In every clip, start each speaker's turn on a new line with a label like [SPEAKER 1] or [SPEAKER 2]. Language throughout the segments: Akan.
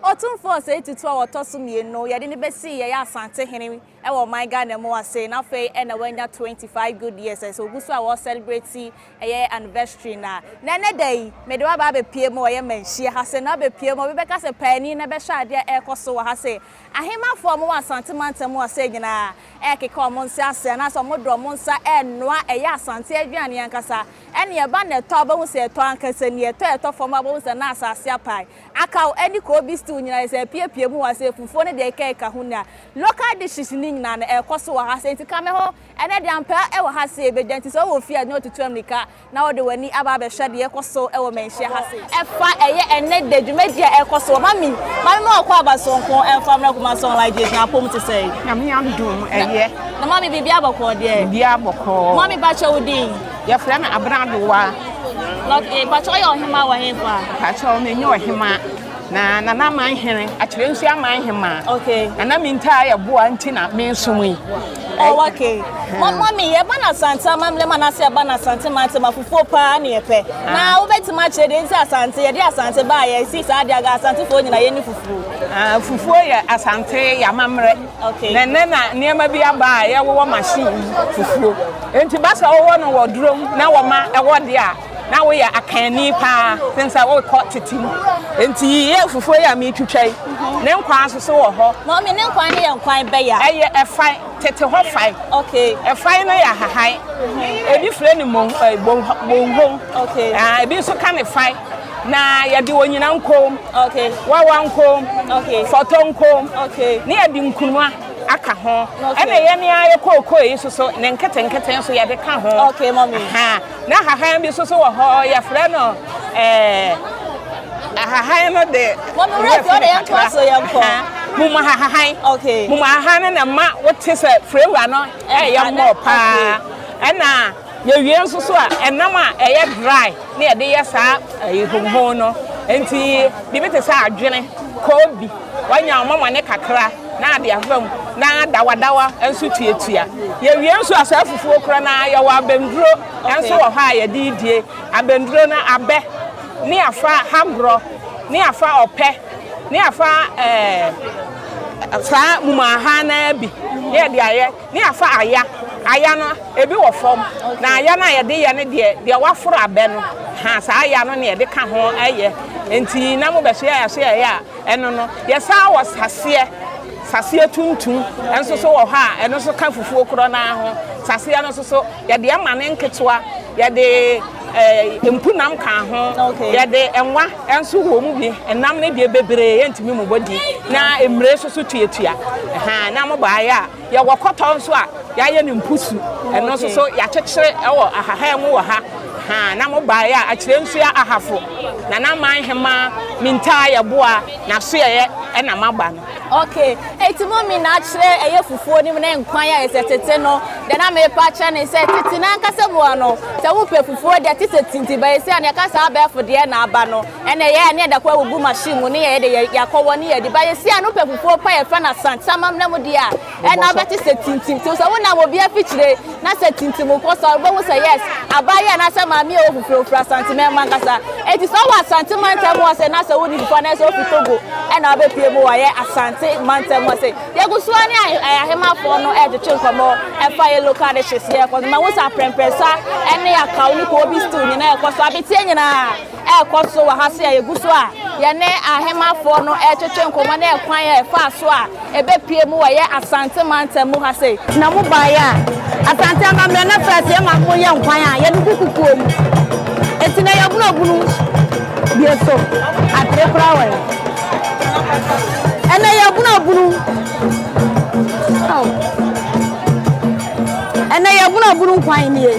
[SPEAKER 1] Otumfoɔ Osei Tutu a ɔtɔ so mmienu no, yɛde no bɛsii yɛn Asante hene wɔ ɔman Ghana mu ase, na afei na wanya 25 good years, ɛsɛ ɔgu so a wɔ celebrate ɛyɛ anniversary no a, na ɛnnɛ da yi mede wo aba abɛpue mu wɔ yɛn manhyia ha se, na wobɛpue mu a obi bɛka sɛ paani no bɛhwɛ adeɛ a ɛrekɔ so wɔ ha se, Ahemafo a wɔwɔ Asante mantam hɔ sɛɛ nyinaa rekeka wɔn nsa ase anaasɛ wɔde wɔn nsa renoa ɛyɛ Asante aduane ankasa. Ɛnna ɛba na ɛtɔ a, wobɛhu sɛ ɛtɔ ankasa ni. Ɛtɔ a ɛtɔ fam a, wobɛhu sɛ na asase apae. Akaw ne koobi stew nyinaa, ɛsɛ sɛ ɛpeapea mu wɔ ha. Sɛ fufuo ne deɛ ɛkeka ho ni a, local dishes no nyinaa no, ɛkɔ so wɔ ha. Sɛ nti ka me ho, ɛnnɛ deɛ ampaa wɔ ha sɛ yɛbɛgya. Nti sɛ wowɔ fie a, na wotutu ammirika na wode w'ani aba abɛhwɛ deɛ ɛkɔ so wɔ manhyia ha sei. Ɛfa ɛyɛ ɛnnɛ da dwumadie a ɛkɔ so wɔ mami mami ma ɔkɔ aba sonko ɛmfa mmerɛ kuma song like gyes na apom te sɛ. Nyame adom
[SPEAKER 2] ɛyɛ. Na mami biribi
[SPEAKER 1] abɔkɔɔ deɛ. Biribi abɔkɔɔ. Mami
[SPEAKER 2] bakyɛ wo din.
[SPEAKER 1] Yɛfrɛ me abena
[SPEAKER 2] dowa. Lɔk e
[SPEAKER 1] bakyɛ ɔyɛ ɔhema wɔ he fa. Bakyɛ ɔno nyɛ
[SPEAKER 2] ɔhema na nana aman hene akyerɛ nsu aman hema. Okay. Nana mintaa
[SPEAKER 1] yɛ
[SPEAKER 2] boa nti na mensom yi. Oh, okay.
[SPEAKER 1] Ma mami yɛ ba na asante amamlɛ ma n'ase ɛba na asante mante ma fufuo paa ne yɛpɛ. Ah. Na wobɛtumi akyerɛ deɛ nti asante yɛde asante baa yɛ si saa deɛ aga asantefoɔ nyina yɛ ne fufuo. Ah, fufuo yɛ
[SPEAKER 2] asante yɛ amammerɛ. Okay. Na ɛnɛ na
[SPEAKER 1] nneɛma bi
[SPEAKER 2] aba a yɛwowɔ machine fufuo. Enti basa wɔwɔ no wɔ durom na wɔma ɛwɔ deɛ a Na woyɛ akanni paa sen sɛ worekɔ tete mu. Enti yiyi afufuo yi a meretwitwa yi ne nkwan nso so wɔ hɔ. Mummy, ne nkwan no yɛ
[SPEAKER 1] nkwan bɛ ya? Ɛyɛ ɛfae, tete
[SPEAKER 2] hɔ fae. Okay. Ɛfae
[SPEAKER 1] no yɛ ahahan.
[SPEAKER 2] Mm-hmm. Ebi frɛ no mong, eh, bonghong. Okay. Ah,
[SPEAKER 1] ebi nso ka ne
[SPEAKER 2] fae. Na yɛde onyina nkom. Okay. Wawa
[SPEAKER 1] nkom.
[SPEAKER 2] Okay. Fɔtɔ
[SPEAKER 1] nkom.
[SPEAKER 2] Okay. Ne yɛde
[SPEAKER 1] nkunuma
[SPEAKER 2] aka ho. Okay. Ɛna yɛn a yɛ kookoo yi nso so ne nketenkete nso yɛde ka ho. Okay, mommy. Ha.
[SPEAKER 1] Na hahan
[SPEAKER 2] bi nso so wɔ hɔ, yɛfrɛ no ɛɛ ahahan no de. Mɔmi wura ti ɔde yɛn
[SPEAKER 1] to aso yɛn kɔ. Mumu ahahan.
[SPEAKER 2] Okay. Mumu ahahan
[SPEAKER 1] no na ma
[SPEAKER 2] wote sɛ flavor no ɛyɛ mɔ paa. Ɛna yɛwie nso so a ɛnam a ɛyɛ dry na yɛde yɛ saa ɛyi honhon no. Nti biribi te sɛ adwene, koobi. Wanya wo mama ne kakra na ade afa mu na adawadawa nso tuatua. Yɛwie nso a saa fufuo korɔ no ara yɛwɔ abɛnduro nso wɔ hɔ a yɛde die. Abɛnduro no abɛ ne afa hagorɔ ne afa ɔpɛ ne afa eh, saa mumaaha no ara bi ne yɛde ayɛ ne afa aya. Aya no ebi wɔ fam na aya no a yɛde yɛ no deɛ deɛ waforo abɛ no ha saa aya no na yɛde ka ho yɛ. Nti na mobɛsoɛ a yɛasoɛ yɛ a Ɛno no, yɛsan wɔ saseɛ, saseɛ tuntum nso so wɔ hɔ a ɛno nso ka fufuo korɔ no ara ho. Saseɛ no nso so, yɛde ɛma no nketewa, yɛde eh, mpunam ka ho, okay. yɛde nwa nso wɔ mu bi. Nam no deɛ bebree yɛntumi mobɔ di, na mmire nso so tuatua. Na mobɔ ayɛ a Yɛwɔ kɔtɔ nso a yɛayɛ no mpusu, ɛno nso so yɛakyekyere wɔ ahahan mu wɔ ha. Ha na mobaeɛ a akyire nso yɛ ahafo, na na man hemaa mintaa yɛ boa n'asoɛeɛ ɛna maba no. Ok, enti
[SPEAKER 1] mo min na akyerɛ ɛyɛ fufuo no mu ne nkwan a ɛsɛ tete no, deɛ na merepa akyerɛ ne sɛ tete no ankasa mu a no, sɛ wopɛ fufuo deɛ ɛte sɛ tinti, but ɛsei a nea ɛka saa abɛɛfo deɛ na aba no. Ɛna yɛ ne yɛda kɔ awugu machine mu ne yɛ de yɛ yakɔ wɔ ne yɛ de ba yɛ si ano pɛ kukuo pa yɛ fɛ na sant samam na mu deɛ a ɛna abɛ te sɛ tintim te sɛ wo nam obi afikyire na sɛ tintim wo kɔ sa wo bɛ hu sɛ yes abaa yɛ na sɛ maame yɛ ofufire ofiri asante mɛ ma nkasa eti sɛ ɔwɔ asante ma ntɛm wɔ sɛ na sɛ wo ni fufa na sɛ ofi togo ɛna abɛ pie mu wɔ yɛ asante ma ntɛm wɔ sɛ yɛ gu so ani ayɛ ahema fɔ no ɛde twe nkɔmɔ ɛfa yɛ local de hyɛ si yɛ kɔ ma hu sɛ aprɛmprɛ sa ɛne akaw ne kɔ obi still nyina yɛ kɔ so abetie nyina ɛrekɔ so wɔ ha sɛ yɛgu so a yɛne Ahemanfoɔ no retwetwe nkɔmmɔ ne ɛkwan a ɛfaa so a ɛbɛpue mu wɔ yɛn Asante mantam mu ha sei. Na mo baeɛ a,
[SPEAKER 3] Asante amammerɛ no frɛɛ sɛ yɛma mo yɛ nkwan a yɛde gu kukuo mu. Enti na yɛbunu abunu bie so atere koraa wɔ he? Ɛnnɛ yɛbunu abunu. Ɛnnɛ yɛbunu abunu nkwan nie.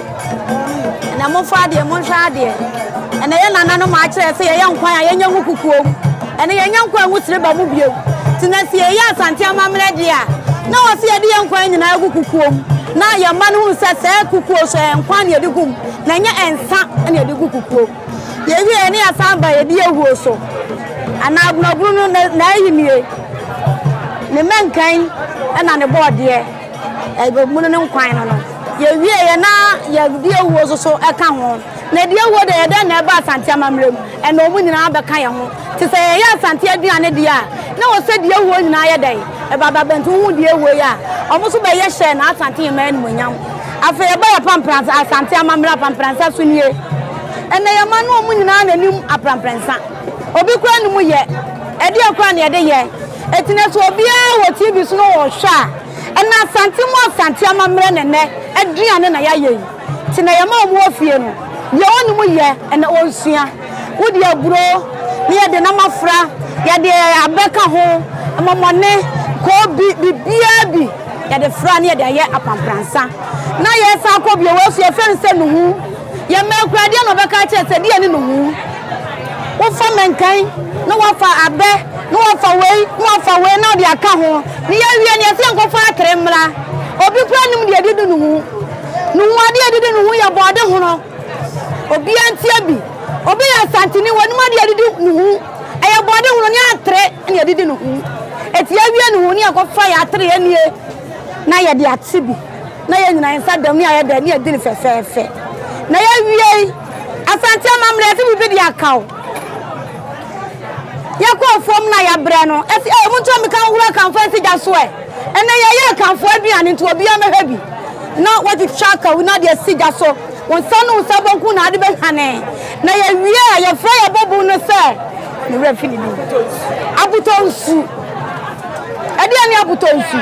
[SPEAKER 3] Ɛnna momfa adeɛ, monhwɛ adeɛ. Ɛnna yɛn nananom akyerɛ sɛ yɛyɛ nkwan a yɛnyɛ ho kukuo mu. Ɛnna yɛnyɛ nkwan ho siriba mu bio. Nti na sɛ yɛyɛ Asante amammerɛ deɛ a, na wɔse yɛde yɛn nkwan nyinaa gu kukuo mu. Na yɛn mma no hunu sɛ saa kukuo so ɛyɛ nkwan na yɛde gu mu, na ɛnyɛ nsa na yɛde gu kukuo mu. Yɛwieeɛ na yɛsan ba yɛdi awuo so. Anaa abunabunu no, n'ayinie, ne mmɛnkan na ne bɔɔdeɛ. Yɛbɛbunu ne nkwa no no. Yɛwieɛ na yɛde awuo nso so ka ho. Na ɛdeɛ awuo deɛ, ɛyɛ dɛn na ɛba Asante amammerɛ mu? Ɛnna wɔn nyinaa bɛka yɛn ho. Te sɛ yɛyɛ Asante aduane deɛ a, na wɔ sɛ deɛ awuo nyinaa yɛ dɛn? Ɛba ba bɛnti wohu deɛ awuo yɛ a, wɔn nso bɛyɛ hyɛ na Asante Nyɛmmoa animuonyam. Afei ɛba yɛ Apamprɛnsa, Asante amammerɛ Apamprɛnsa so nie. Ɛnna yɛn mma no wɔn nyinaa na ɛnim Apramprɛnsa. Obi koraa nnim yɛ. Ɛdeɛn koraa na yɛde yɛ? Ɛtena so obiara wɔ TV so na ɔrehwɛ a, ɛna Asante mu Asante amammerɛ na ɛnɛ aduane na yɛayɛ yi. Nti na yɛma wɔn wɔ fie no, deɛ wɔnnim yɛ ɛna wɔresua. Wodi aburo na yɛde nam afra, yɛde abɛ ka ho, mmɔmɔne, koobi, biribiara bi yɛde fra na yɛde ayɛ apampransa. Na yɛresan akɔ bio wɔ afie yɛfrɛ no sɛ nuhu. Yɛn mmaa kura deɛ na wɔbɛka akyerɛ sɛ deɛ ne nuhu. Wofa mankan na woafa abɛ na woafa wei na woafa wei na wode aka ho na yɛawie no yɛsɛ yɛnkɔfa atere mmra. Obi koraa nim deɛ ɛdidi ne ho. Ne ho adeɛ ɛdidi ne ho yɛ bɔɔde hono. Obiara ntie bi. Obi yɛ asanteni wɔnim adeɛ ɛdidi ne ho. Ɛyɛ bɔɔde hono ne atere na ɛdidi ne ho. Eti yɛawie ne ho na yɛkɔfa yɛ atere yɛ nie na yɛde ate bi. Na yɛn nyinaa yɛn nsa da mu, ne ayɛ dɛ, ne yɛdi no fɛfɛɛfɛ. Na yɛawiei. Asante amammerɛ, yɛse biribi de aka o. Yɛkɔɔ fam na yɛabrɛ no, ɛse ee monto ammirika nhoro Akanfoɔ nsigya so ɛ. Ɛnnɛ yɛyɛ Akanfoɔ aduane nti obiara mmɛhwɛ bi. Na wɔatwitwa Akawuna de asi gya so. Wo nsa ne wo nsa benkum na ade behwane, na yewie a yɛfrɛ yɛn bɔbun no sɛ ne werɛ fi ne din. Abotɔ nsu. Ɛdeɛn ne abotɔ nsu?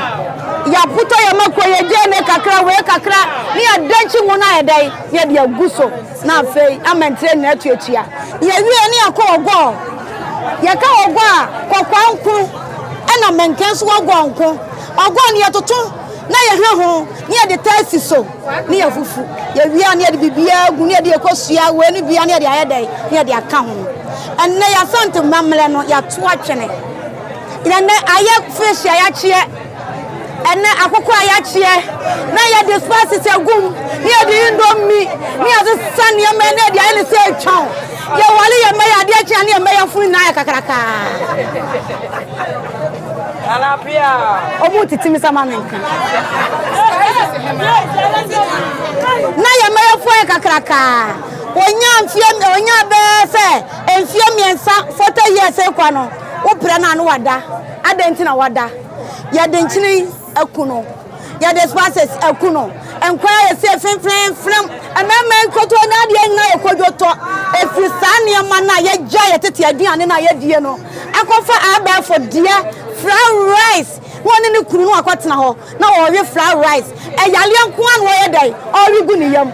[SPEAKER 3] Yɛabotɔ yɛn mako, yɛgyae me kakra, wei kakra, ne yɛadenkye ngo no ayɛ dɛn? Ne yɛde agu so, na afei ama ntire nyinaa atu atua. Yɛwie ne yɛkɔ ɔgɔɔ. Yɛka ɔgɔɔ a, kɔkɔɔ nko na mɛnkɛn so ɔgɔɔ nko. Ɔgɔɔ no yɛtoto na yɛhɛ ho, ne yɛde taa si so. ne yɛ fufu, yɛ wie a ne yɛde biribiara gu ne yɛde ɛkɔ sua wei ne bia ne yɛde ayɛ dɛn ne yɛde aka ho. Ɛnnɛ yɛ asante mmammerɛ no yɛato atwene. Ɛnnɛ ayɛ fish a yɛakyeɛ, ɛnnɛ akokɔ a yɛakyeɛ na yɛde spices agum ne yɛde indomi ne yɛde sa nneɛma ne yɛde ayɛ ne sɛ atwan. Yɛwale yɛ mma yɛ adeɛ kyea ne yɛ mma yɛ funu nyinaa yɛ kakrakaa. Ɔmo tete me sa ma me nka. Na yɛ mmerɛfoɔ yɛ kakraka. Onya mfie onya bɛɛ sɛ mfie mmiɛnsa forty years ekɔ no wobrɛ no a no wada. Adɛn nti na wada? Yɛde nkyene yi. Aku no. Yɛde spices aku no. Nkwadaa yɛ se fimfimfim. Mmarima nkotoo na adeɛ nyinaa yɛ kodwotɔ. Ɛfiri saa nneɛma no a yɛgya yɛ tete aduane no a yɛdie no akɔfa abɛɛfo deɛ fried rice na ɔne ne kunu no akɔtena hɔ na ɔrewe fried rice. Ɛyaleɛ nko ara na ɔyɛ dɛn ɔrewe gu ne yam.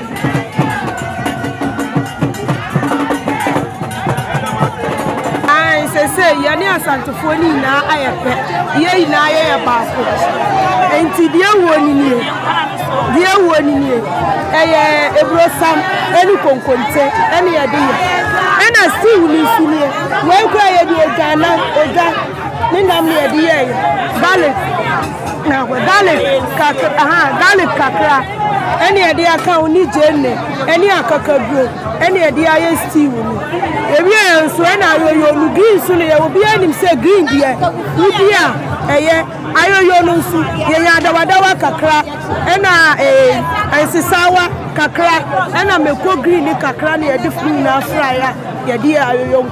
[SPEAKER 4] yɛne asantefoɔ no nyinaa ayɛ pɛ yɛ nyinaa yɛyɛ baako nti deɛ wuo ni nie deɛ wuo ni nie ɛyɛ eburosam ɛne konkonte ɛne yɛde yɛ ɛna stew no nso nie wɔn kura yɛde odwa na odwa ne nam na yɛde yɛ yɛ garlic. Na hwɛ, garlic kakra, aha, garlic kakra ɛne yɛde aka ho ne gyeene ɛne akakaduro ɛne yɛde ayɛ stew no. Yɛwie yɛ nso ɛna ayoyo no, green nso no yɛ, obiara nim sɛ green deɛ wodi a ɛyɛ. Ayoyo no nso yɛnya adawadawa kakra ɛna ee, nsesaawa kakra ɛna mako green no kakra na yɛde fry na afry a yɛde yɛ ayoyo.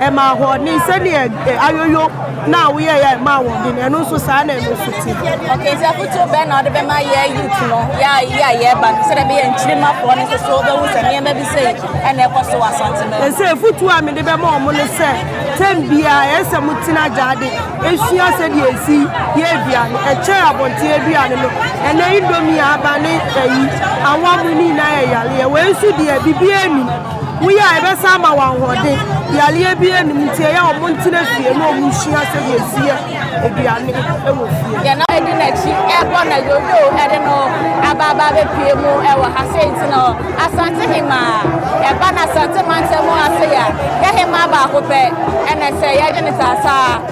[SPEAKER 4] Ɛma ahoɔden, sɛdeɛ ayoyo no a woyɛeɛ a ɛma ahoɔden no, ɛno nso saa na ɛno nso te. Okay, nti afotuo bɛn na wode
[SPEAKER 1] bɛma yɛ youth no, yɛ a yɛ a yɛreba no, sɛdeɛ ɛbɛyɛ nkyirimafoɔ no nso so wobɛhu sɛ nneɛma bi sei ɛna ɛkɔ so wɔ Asante no. Ɛsɛ afotuo a mede
[SPEAKER 4] bɛma wɔn ne sɛ, tɛm biara ɛsɛ sɛ motena agyaade ɛsua sɛdeɛ ɛsi yɛ aduane, ɛkyɛn abɔnten aduane no, ɛnɛ indomie, aba ne ayi, awɔm, ne nyinaa yɛ yareɛ, wei nso deɛ biribiara nnim. Woyɛ a, ɛbɛsan ama wo ahoɔden. Yareɛ biara nnim nti ɛyɛ a wɔntena fie na wɔnsua sɛdeɛ ɛsi yɛ aduane wɔ fie. Yɛn nna di n'akyi
[SPEAKER 1] rebɔ na Yoyo de no aba aba abɛpue mu wɔ ha. Sei nti no, Asante Hemaa, ɛba no Asante mantam ase a, yɛhemaa baako pɛ na ɛsɛ yɛgye no saa saa.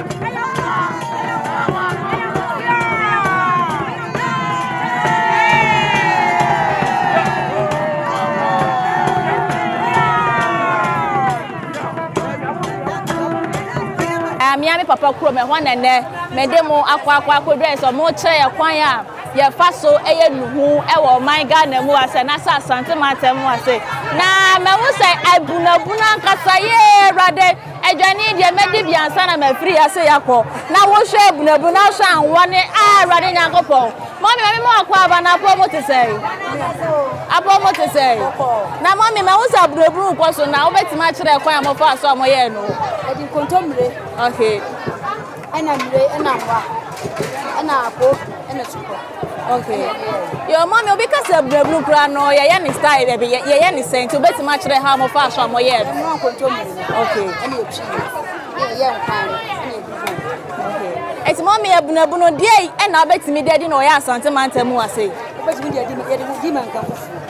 [SPEAKER 1] mea me papa kurom ɛhɔ na nnɛ mede mo akɔ akɔ akɔdwa sɛ ɔmo kyerɛ yɛ kwan a yɛfa so ɛyɛ nuhu ɛwɔ ɔman ghana mu asɛ na sɛ asante mu atɛm mu ase na mɛhu sɛ abunabunu ankasa yee awurade Aduane deɛ, mɛdi bi ansa na mafiri ha sei akɔ, na wohwɛ abunuabunu, na wohwɛ anwa ne, ah, Awurade Nyankopɔn. Mummy, maame ma wɔakɔ aba, na apɔw mu te sɛn? Apɔw mu te sɛn? Na mummy, mahu sɛ abunuabunu rekɔ so, na wobɛtumi akyerɛ kwan a mofaa so a moyɛɛ no? Ɛde nkontommire.
[SPEAKER 3] Okay.
[SPEAKER 1] Ɛna
[SPEAKER 3] mire ɛna nwa ɛna ako ɛna tukɔ. Okay.
[SPEAKER 1] Yo mommy obi ka sɛ brabunu kura no yɛyɛ ne style dɛ bi yɛyɛ ne sɛn nti obetumi akyerɛ ha mo fa so a mo yɛ. Ɛmu ankonto mu.
[SPEAKER 3] Okay. Ɛna epi yɛ yɛ nkwan no ɛna
[SPEAKER 1] ebi fo. Okay. Ɛti mommy abunabunu deɛ ɛna obetumi de adi na ɔyɛ asante mantam mu ase. Obetumi de adi yɛ de
[SPEAKER 3] di mankan fufuo.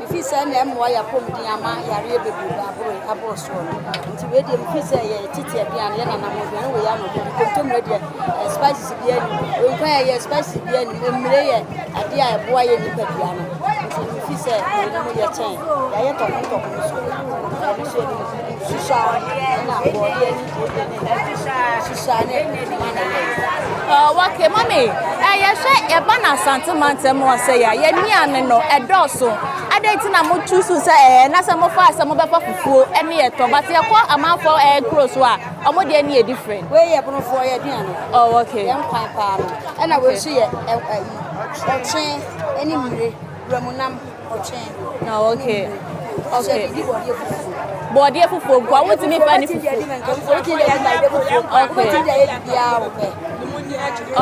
[SPEAKER 3] Mefii sɛ na ɛmmoa y'apɔmuden ama yareɛ bebrebe aboro aboro soɔ no nti wei deɛ mefii sɛ yɛ titi aduane yɛ nanam aduane wei ano deɛ nkontomire deɛ eh, spices bi anim wei nkwa yɛ yɛ spices bi anim mmire yɛ adeɛ a ɛboa yɛ nipa dua no nti mefii sɛ wei no mu yɛ kyɛn yɛayɛ tɔko tɔko no so ɛno so yɛ no susa ɛna bɔɔdeɛ ne deɛ ne susa
[SPEAKER 1] Okay, mommy, yɛhwɛ yɛba na Asante mantam wɔ sɛ yɛ yɛ nnuane no ɛdɔɔso adɛn nti na motu so sɛ ɛɛ na sɛ mofaa sɛ mobɛfa fufuo ne yɛtɔ but yɛkɔ amanfoɔ ɛɛ kuro so a ɔmo deɛ ne yɛ different. wei yɛ bonofoɔ yɛ
[SPEAKER 3] aduane oh okay yɛn kwan
[SPEAKER 1] paa no
[SPEAKER 3] ɛna wei nso yɛ ɛyi ɔtwe ne mmire Wuramu nam ɔtwɛn. Na okay.
[SPEAKER 1] Okay. Di bɔdeɛ fufuo. Bɔdeɛ fufuo gua wo tumi ba ne fufuo.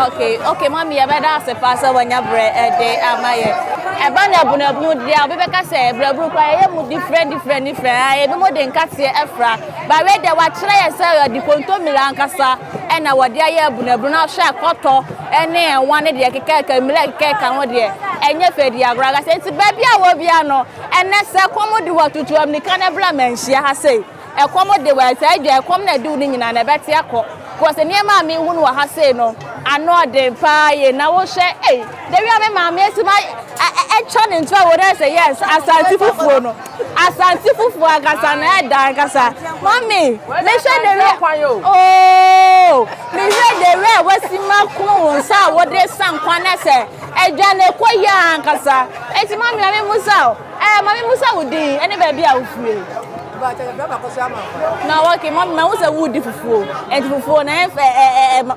[SPEAKER 1] Okay. Okay. Mami yɛ bɛ da ase paa sɛ wɔnya brɛ ɛde ama yɛ. Ɛba na bunabunu deɛ a obi bɛka sɛ brabunu kɔ ɛyɛ mu different different different. Ebi mo de nkateɛ ɛfra. Baawe deɛ wakyerɛ yɛ sɛ ɔde kontomire ankasa. Ɛna wɔde ayɛ abunabunu ahwɛ a kɔtɔ ne nwa ne deɛ ɛkekɛɛka mmire a ɛkekɛɛka ho deɛ ɛnyɛ fɛ di agorɔ ankasa. Enti baabi a wɔ biara no, ɛnnɛ sɛ ɛkɔm de wo a, tutu ammirika na bra ma nhyia ha sei. Ɛkɔm de wo a, saa deɛ ɛkɔm na ɛde wo no nyinaa na ɛbɛte akɔ. Because nneɛma a mehu no wɔ ha sei no, ano ɔden pa ara yie. Na wohwɛ, ei, dawia me maame asi ma atwa ne ntoa wɔ no ayɛ sɛ, yes, asase fufuo no. Asase fufuo ankasa na ɛda ankasa. Mummy, mehwɛ the way oh, mehwɛ the way a wasi ma kunu wo nsa a wode sa nkwa na sɛ ɛdwa na ɛkɔ yie ankasa. Eti mummy mame musa o, ɛɛ eh, mame musa wo din ɛne baabi a wofie. Na wɔke mummy ma wo sɛ wudi fufuo, ɛti fufuo na ɛfɛ ɛɛ ɛɛ.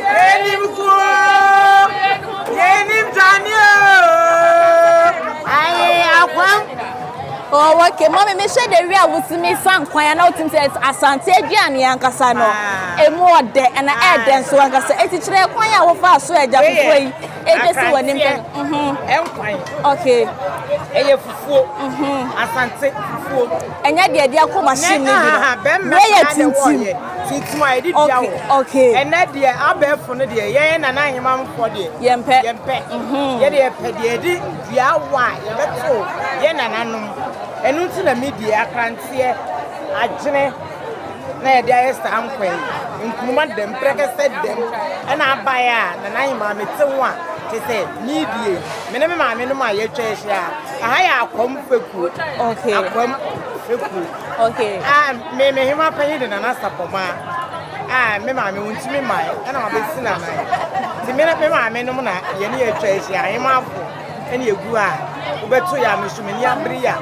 [SPEAKER 1] Yɛnim ko o, yɛnim tane o. Aye, akwam. Oh, okay. Mommy, me share the real with me fan kwan and out into Asante Adrian Yankasa no. A more de and a air than so and say it's a kwan ya wo fa so e ja fufu yi. E je si wo nim kan. Mhm. Em kwan. Okay. E ye fufu. Mhm. Asante fufu. Enya de de akoma shim ni bi. Be ye tintim. Tintim a yɛde dua wɔ hɔ. Okay. Ɛnɛ deɛ abɛɛfo no deɛ yɛn nana ahemamfoɔ deɛ. Yɛmpɛ. Yɛmpɛ. Mm-hmm. Yɛde yɛpɛ deɛ yɛde dua wɔ a yɛbɛto yɛn nananom. Ɛno nti na mi deɛ akranteɛ, agyene na yɛde ayɛ saa nkwa yi. Nkuruma dɛm, prɛkɛsɛ dɛm ɛna abaeɛ a nana ahemaa mete ho a te sɛ mi deɛ me ne me maame nom a yɛatwa ahyia. Aha yɛ akwam fekuo. Okay. Akwam fekuo. Okay. Ah, me me hema panyin de nana sapoma. Ah, me maame wontumi man. Ɛna ma besi na nan. Ti me me maame no na ye ne ye twa ehyi ahema afo. Ɛna egu a wobɛto ya me so me ni abere ya.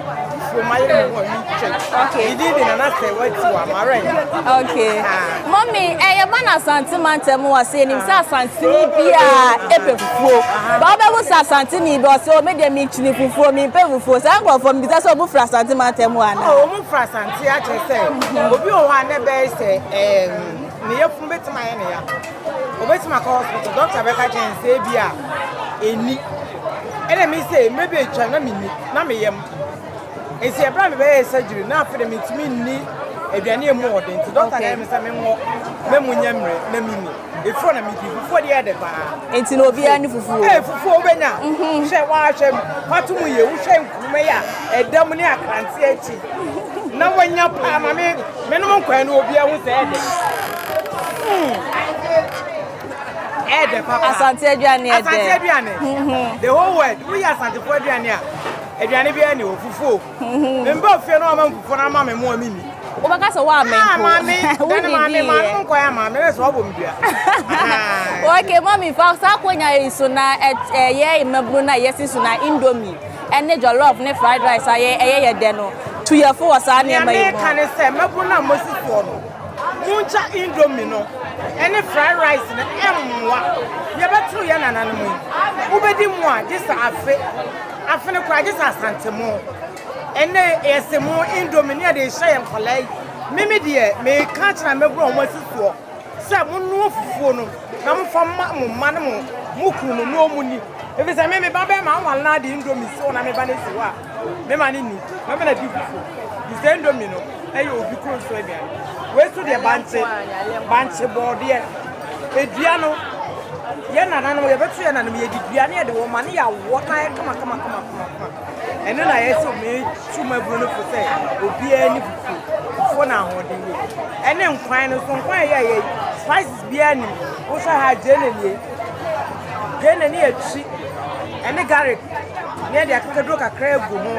[SPEAKER 1] Fo ma ye me ho mi twa. Okay. Didi de nana sɛ wati wa mare. Okay. Ah. Mummy, ɛyɛ man Asante mantam wɔ se enim sɛ Asanteni biara epɛ fufuo. Ba wobɛhu sɛ Asanteni bi ɔse o me deɛ menkyini fufuo, mempɛ fufuo. Saa nkurɔfoɔ mebisa sɛ ɔmu firi Asante mantam hɔ anaa? Oh, ɔmu firi Asante akyerɛ sɛ obi wɔ hɔ a na ɛbɛyɛ sɛ ɛɛm ne yafunu bɛtumi ayɛ ne ya. Obɛtumi akɔ hospital, doctor bɛka kyerɛ ne sɛ ebi a ɛni. Ɛna me sɛ mmerɛ bi atwam na menni, na meyam. Esi bere a mebɛyɛɛ surgery na afei de mintumi nni aduane a emu wɔ den nti, dɔkta ka kyerɛɛ me sɛ menkɔ na emu nyɛ mmerɛ na minni. Efuo na midi. Fufuo deɛ yɛ dɛ paa. Enti na obiara ne fufuo. Ee, fufuo a wobɛnya. Mhm. Hwɛ, woahwɛ pato mu yie, wohwɛ nkuruma yi a ɛda mu ne akrante akyi na woanya paa ma me menom nkwan no obiara hu sɛ ɛdɛ. Ɛdɛ papa. Asante aduane ɛdɛ. Asante aduane. Mhm. The whole world, woyɛ asantefo aduane a Aduane biara nni hɔ, fufuo. Me mba ofie na wɔama me fufuo na ama me mmoa menni. Wobɛka sɛ woamɛ mpo. Ah, maame, dane maame, maame mo nkɔyɛ ama me, bɛ sɛ wɔbɔ me dua. Okay, mami, fa saa konya yi so na ɛyɛ mmabunu na yɛsi so na indomie ɛne jollof ne fried rice a ɛyɛ yɛ dɛ no tu yɛ fo wɔ saa nneɛma yi mu. Nea meka ne sɛ mmabunu na mosi soɔ no, monkya indomie no ɛne fried rice no ɛmmoa. Yɛbɛtoro yɛ nananom yi, wobɛdi mu a gye sɛ afe. Afene koraa gye sɛ asantemo. Ɛnɛ yɛ semo, indomie ne yɛde rehyɛ yɛn nkwadaa yi. Mimi deɛ meka akyerɛ a mɛbura wɔn asi soɔ sɛ monoa fufuo no na mofa ma mo mma ne mo mo kunu no na wɔn ni. Ebi sɛ me me ba bɛrima awale na ade indomie si hɔ na me ba no si hɔ a me ma no ni na me na di fufuo. Di sɛ indomie no ɛyɛ obi kuro nso aduane. Wei nso deɛ bankye bankye bɔɔdeɛ. Dua no, yɛn nananom, yɛbɛto yɛn nananom, yɛde dua no yɛde wɔn ma ne yɛawɔ no ayɛ kama kama kama kama. Ɛno na yɛte omee tu maburo no fo sɛ obiara ni fufuo, fufuo na
[SPEAKER 5] ahoɔden wɔ mu. Ɛne nkwan no so, nkwan yɛ yɛ spices biara nim. Wohwɛ ha gyeene nie, gyeene ne yɛtwi, ɛne garlic ne yɛde akekaduro kakra agu ho.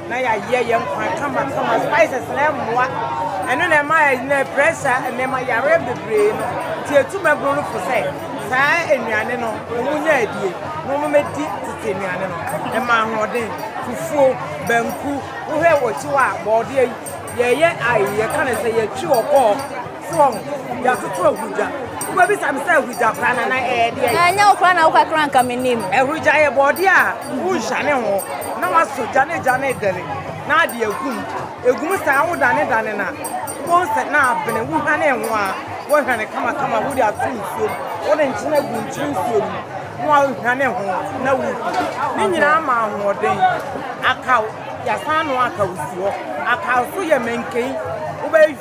[SPEAKER 5] na yɛayɛ yɛn nkwan kamakama spices na ɛmmoa ɛno na ɛma ɛnɛ pressure nneɛma yareɛ bebree no nti ɛtu mɛboro no fo sɛ saa nnuane no wɔn nyɛ adie na wɔn mɛdi tete nnuane no ɛma ahoɔden fufuo banku wohwɛ wɔkyi hɔ a bɔɔdeɛ yi yɛyɛ ayi yɛka ne sɛ yɛtwi ɔkɔɔ Soɔ ho, yɛatoto ahurugya. Wobɛbisa me sɛ ahurugya koraa na na ɛyɛ deɛ? Ɛnyɛ wo koraa na wokakra
[SPEAKER 1] nka menim. Ahurugya yɛ bɔɔdeɛ
[SPEAKER 5] a wonhwane ho na wasɔ gya na gya no redɛre na ade agu mu. Ɛgu mu saa a wodanedane no a, wobɛhu sɛ na abene. Wohwane ho a, wohwane kamakama wode ato nsuo mu. Wode nkyene gu nkyene nsuo no mu na woahwane ho na wodi. Ne nyinaa ma ahoɔden. Akaw, yɛasan anoa akaw si hɔ. Akaw nso yɛ mankani. Wobɛ.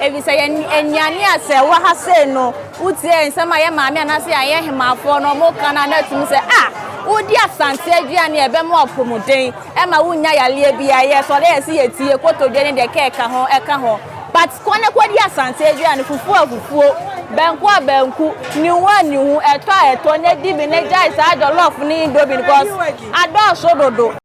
[SPEAKER 1] Efisɛ yɛn anuanom a sɛ wɔwɔ ha sei no, wotie nsɛm a yɛn maame anaasɛ yɛn ahemmafoɔ no wɔka no a, na ɛtumi sɛ, Ah, wodi Asante aduane a ɛbɛma w'apɔmuden, ɛmma wonnya yareɛ biara, yɛ sɔre a ɛsɛ yɛtie, kotodwe ne deɛ ɛka ɛka ho, ɛka ho. But kɔ na kɔdi Asante aduane, fufuo a fufuo, banku a banku, nihu a nihu, ɛtɔ a ɛtɔ, na di bi na gyae saa jollof ne indomie no, cause adɔɔso dodo.